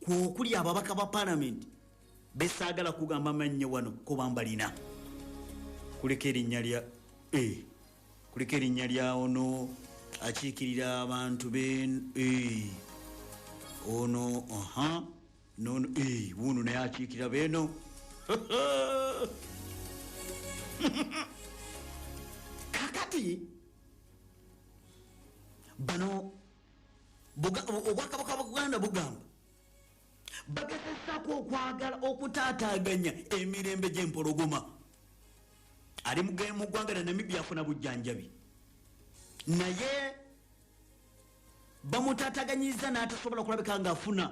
kwokuli ababaka ba palamenti besaagala kugamba mannyo wano kuba mbalina kulika erinnya lya e kulika erinnya lya ono akiikirira abantu be e ono aha nono e wuuno naye akiikirira beeno kakati bano obwakabaka bwa buganda bugamba bagezesako okwagala okutaataganya emirembe gyempologoma ali mu ggwanga lya namibia afuna bujjanjabi naye bamutaataganyiza n'atasobola kulabika ngaafuna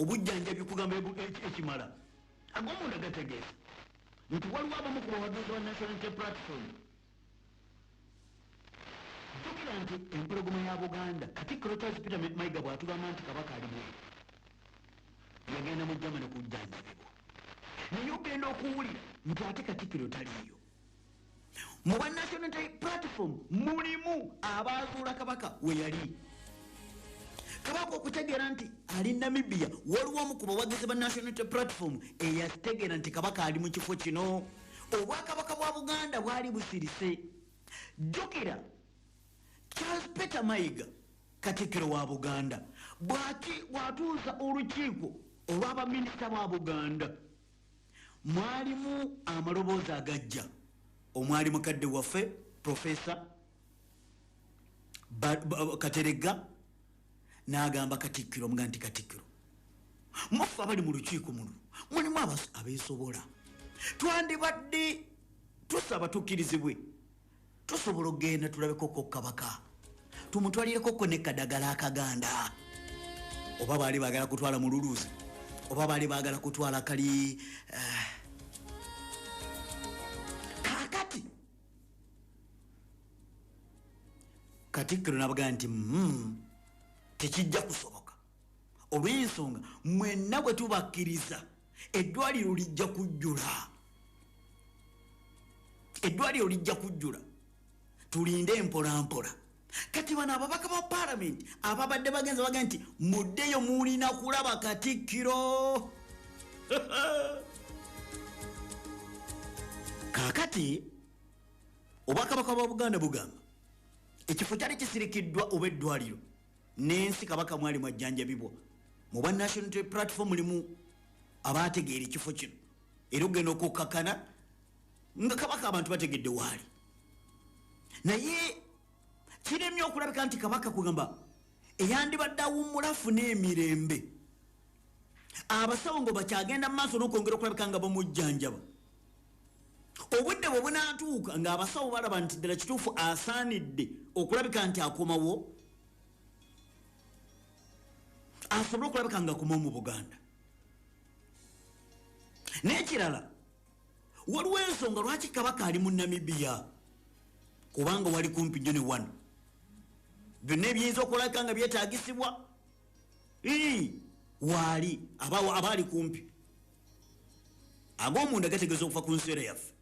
obujjanjabi okugamba ekimala agomunda gategeeza nti waliwo abamu ku bawagizi ba national interplatform jjukira nti empologoma ya buganda katikkiro charles peter mayiga bw'atugamba nti kabaka ali mweru yagenda mu germany kujjanjabibwa naye ogenda okuwulira nti ate katikkiro taliiyo mu ba national platform mulimu abaazuula kabaka we yali kabaka okutegeera nti ali namibia waliwo omu ku bawagizi ba national platform eyategeera nti kabaka ali mu kifo kino obwakabaka bwa buganda bwali busirise jjukira charles peter mayiga katikkiro wa buganda bwatuusa olukiiko olwabaminisita ba buganda mwalimu amaloboozi agajja omwali mukadde waffe profesa kateregga n'agamba katikkiro muga nti katikkiro muffe abali mu lukiiko muno mulimu abeesobola twandibadde tusaba tukkirizibwe tusobola okugenda tulabekoko kabaka tumutwalireko ko ne kadagala akaganda oba baali baagala kutwala mululuuzi oba baali baagala kutwala kali eh, kakati katikkiro nabagaa nti mm, tekijja kusoboka olw'ensonga mwenna bwe tubakkiriza eddwaliro lijja kujjula eddwaliro lijja kujjula tulinde empolampola kati bano ababaka ba palamenti ababadde bagenza baga nti muddeyo mulina kulaba katikkiro kakati obwakabaka bwa buganda bugamba ekifo kyali kisirikiddwa oba eddwaliro n'ensi kabaka mwali mwajjanjabibwa mu bwa national platform mulimu abaategeera ekifo kino era okugenda okukkakana nga kabaka abantu bategedde waali naye kiremye okulabika nti kabaka kugamba eyandibadde awummula afuna emirembe abasawo nga bakyagenda mu maaso n'okwongera okulabika nga bamujjanjaba obudde bwe bunatuuka ng'abasawo balaba nti ddala kituufu asaanidde okulabika nti akomawo asobole okulabika nga akomawo mu buganda n'ekirala waliwo ensonga lwaki kabaka ali mu namibiya kubanga wali kumpi nyo ne wano byonna ebiyinza okulaka nga byetagisibwa waali abaali kumpi ag'omunda gategeeza okuva ku nsiera yaffe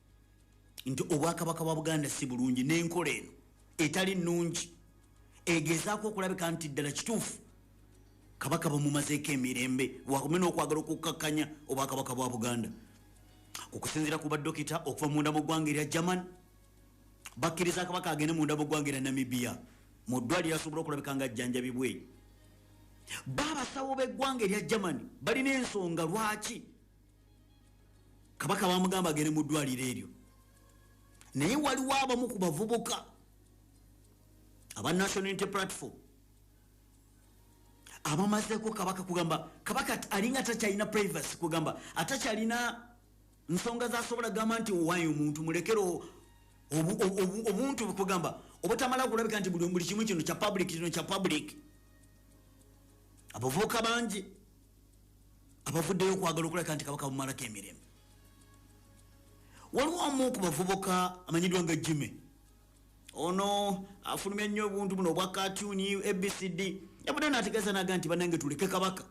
nti obwakabaka bwa buganda si bulungi n'enkola eno etali nnungi egezaako okulabika nti ddala kituufu kabaka bamumazeeko emirembe wakume n'okwagala okukkakkanya obwakabaka bwa buganda okusinzira ku badokita okuva munda mu ggwanga erya german bakkiriza kabaka agende munda mu ggwanga erya namibia mu ddwaliro asobola okulabika nga ajjanjabibwe baabasawo b'eggwanga erya germany balina ensonga lwaki kabaka bamugamba agende mu ddwaliro eryo naye waliwo abamu ku bavubuka aba national unity platform abamazeko kabaka kugamba kabaka alinga takyalina privacy kugamba atakyalina nsonga zasobola gamba nti owayo omuntu mulekero obuntu bukugamba obutamala kulabika nti buli buli kimu kino kya public kino kya public abavubuka bangi abavuddeyo okwagala okulabika nti kabaka bumalako emirembe waliwo omu ku bavubuka amanyiddwa nga jime ono afulumya nnyo obuntu buno obwa katuni abcd yabudde nategeeza naga nti banange tuleke kabaka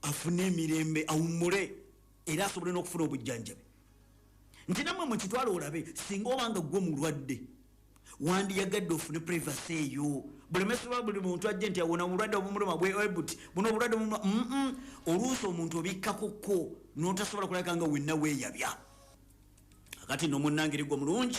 afune emirembe awummule era asobole n'okufuna obujjanjabi nti namwe mukitwala olabe singa obanga gwe mulwadde wandiyagadde ofune privacy eyo bulemesibwa buli muntu ajje nti awona obulwadde obumuluma bwebut buno obulwadde bumuluma mm oluusi omuntu obikkakokko notasobola kulabika nga wenna weyabya akati nomunangirigwo mulungi